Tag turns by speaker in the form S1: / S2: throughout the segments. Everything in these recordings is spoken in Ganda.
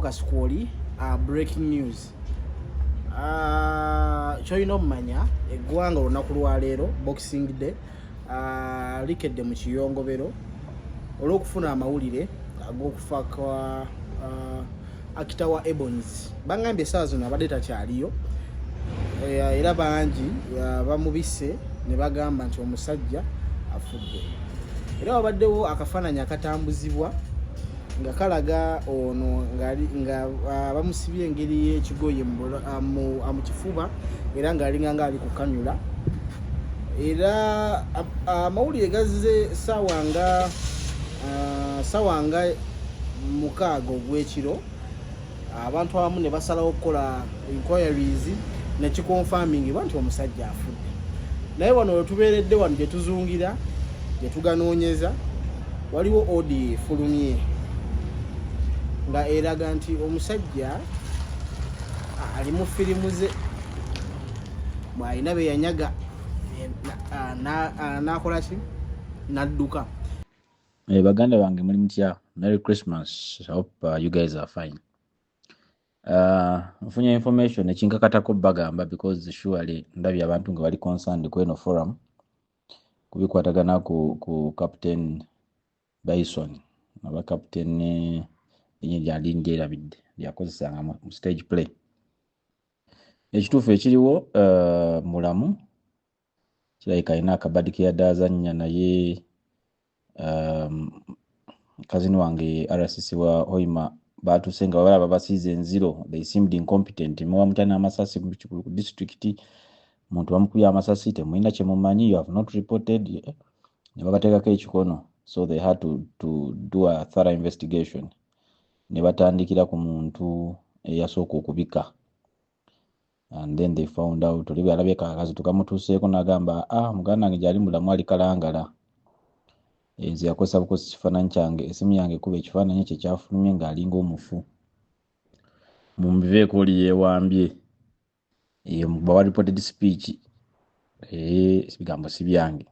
S1: kasukwoli uh, breaking news uh, kyolina omumanya eggwanga olunaku lwaleero boxing day uh, likedde mu kiyongobero olw'okufuna amawulire ag'okufa uh, kwa uh, akita wa ebons bangambye esaawa zino abadde takyaliyo uh, era bangi uh, bamubise ne bagamba nti omusajja afudde era wabaddewo akafaananyi akatambuzibwa nga kalaga ono nga ah, bamusibye engeri yekigoye ah, ah, mu kifuba era ngaalinga nga ali kukanyula era amawulire gazze sawa nga sawa nga mukaaga ogwekiro abantu abamu ne basalawo okukola inquiries nekikonfamingibwa nti omusajja afudde naye wano wetubeeredde wano gyetuzungira gyetuganoonyeza waliwo odi efulumye nga eraga nti omusajja ali mu firimu ze bwalina beyanyaga nakolaki nadduka Eh,
S2: baganda bange muli mutya merry christmas i hope uh, you guys are fine uh, nfunye information ekinkakatako bagamba because surely ndabye abantu nga bali concerned kweno forum kubikwatagana ku, ku captain bison aba captain eh, enye lyali ndyerabidde lyakozesanga mu mu stage play ekituufu ekiriwo uh, mulamu kirabika alina akabadi keyadazanya naye um, kazini wange rcc wa hoima batuse nga babala babasiiza enziro they seemed incompetent muba mutya n'amasasi ku district muntu bamukubye amasasi temulina kyemumanyi you have not reported eh, ne babateekako ekikono so they had to, to do a thorough investigation ne batandikira ku muntu eyasooka okubika and then they found out oli bweyalabye kakazi tukamutuuseeko nagamba ah muganda wange gyali mulamu ali kalangala enze yakozesa bukozesa ekifaananyi kyange esimu yange ekuba ekifaananyi ekyo ekyafulumye ng'alinga omufu mumbiveeko oli yeewambye eyo mubawa reported speech ebigambo si byange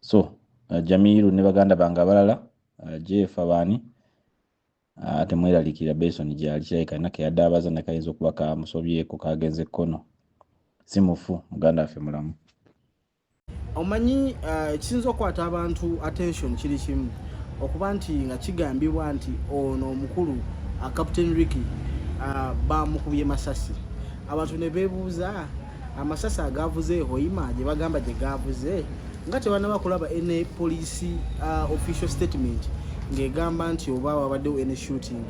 S2: so uh, jamiiru ne baganda bange abalala uh, jeefa baani Ah, temweralikira beson gyali kirabika alina keyadaabaza ne kayinza okuba kamusobyeko kagenze kkono si mufu muganda waffe mulamu
S1: omanyi ah, ekisinza okukwata abantu attention kiri kimu okuba nti nga kigambibwa nti ono omukulu ah, captain ricky bamukubye masasi abantu ne beebuuza amasasi agavuze hoima gye bagamba gye gavuze nga tebanaba kulaba ene poliisi uh, official statement ng'egamba nti oba wabaddewo ene shooting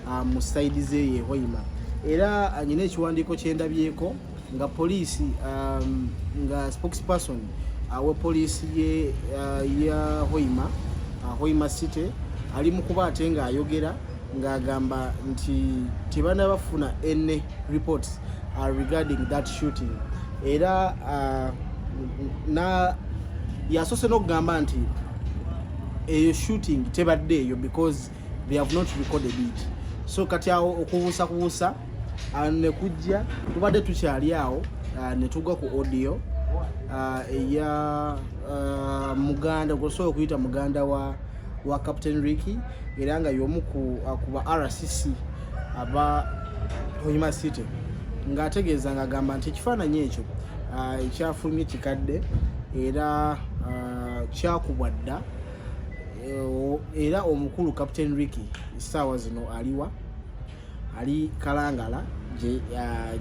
S1: uh, mu saidi ze ye hoima era anyina uh, ekiwandiiko kyendabyeko nga poliisi um, nga spokesperson awa poliisi ye uh, ya hoima uh, hoima city ali mu kuba ate ng'ayogera ng'agamba nti tebana bafuna any reports uh, regarding that shooting era uh, na yasose n'okugamba nti eyo shooting tebadde eyo because they have not recorded it so kati awo okubuusa kubuusa uh, nekujja tubadde tukyali awo uh, netugwa ku audio uh, eya uh, muganda gwosobola okuyita muganda wa wa captain ricky era nga yomu ku akuba rcc aba oyima city ng'ategeeza ng'agamba nti ekifaananyi ekyo ah, ekyafulumye kikadde era ah, kyakubwa dda eh, era omukulu captain ricky essaawa zino aliwa ali kalangala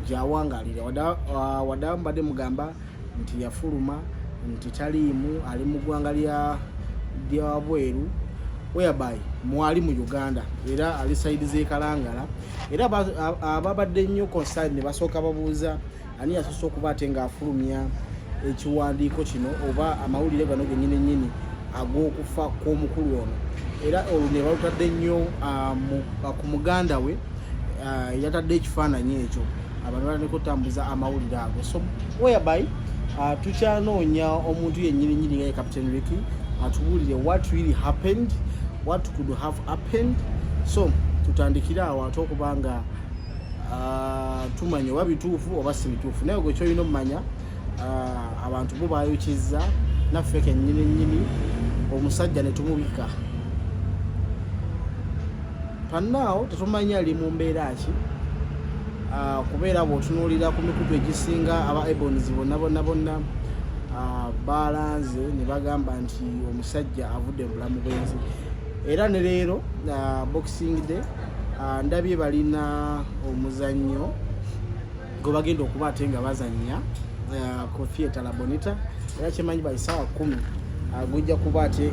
S1: gyawangalira wadawa mbadde mugamba nti yafuluma nti taliimu ali mu ggwanga lyabweru whereby mwali mu uganda era ali saidi zekalangala era ababadde nnyo concern ne basooka babuuza ani yasoose okuba ate ng'afulumya ekiwandiiko kino oba amawulire gano genyini nyini ag'okufa kw'omukulu ono era olwo ne balutadde nnyo ah, ah, ku muganda we ah, yatadde ekifaananyi ekyo abantu bataneko otambuza amawulire ago so whereby tukyanoonya omuntu yenyini nyini nga ye captain ricky atubuulire what really happened what could have happened so tutandikire awo ate okuba nga ah, tumanya oba bituufu oba si bituufu naye gwe kyolina omumanya ah, abantu bo bayokizza naffe kenyini nyini omusajja netumubika panaawo tetumanyi ali mu mbeera ki ah, kubeera bwotunuulira ku mikutu egisinga aba ebons bonna bonna bonna balanze ne bagamba nti omusajja avudde mu bulamu bwenzi era ne leero boxing day Ah, ndabye balina omuzannyo gwe bagenda okuba ate nga bazannya ah, ku theatre labonita era kyemanyi baisaawa kumi ah, gujja kuba ate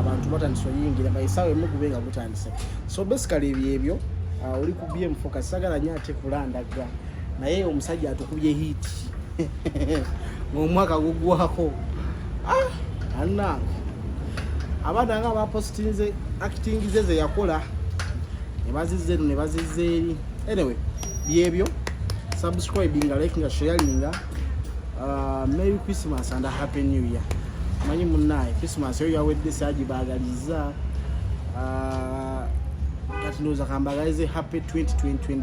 S1: abantu batandise oyingira baisaawa emu gube nga gutandise so basically ebyebyo oli ku bmfocus sagala nyo ate kulandagga naye omusajja atukubye hiiti ng'omwaka gugwako ah, anange abaana nga bapositinze acting ze zeyakola nebazizza eno nebazizza eri anyway byebyo subscribinga likinga sharinga uh, merry christmas and happy new year manyi munaye christmas eyo yawedde sagibagaliza uh, kati ndowooza kambagalize happy 2020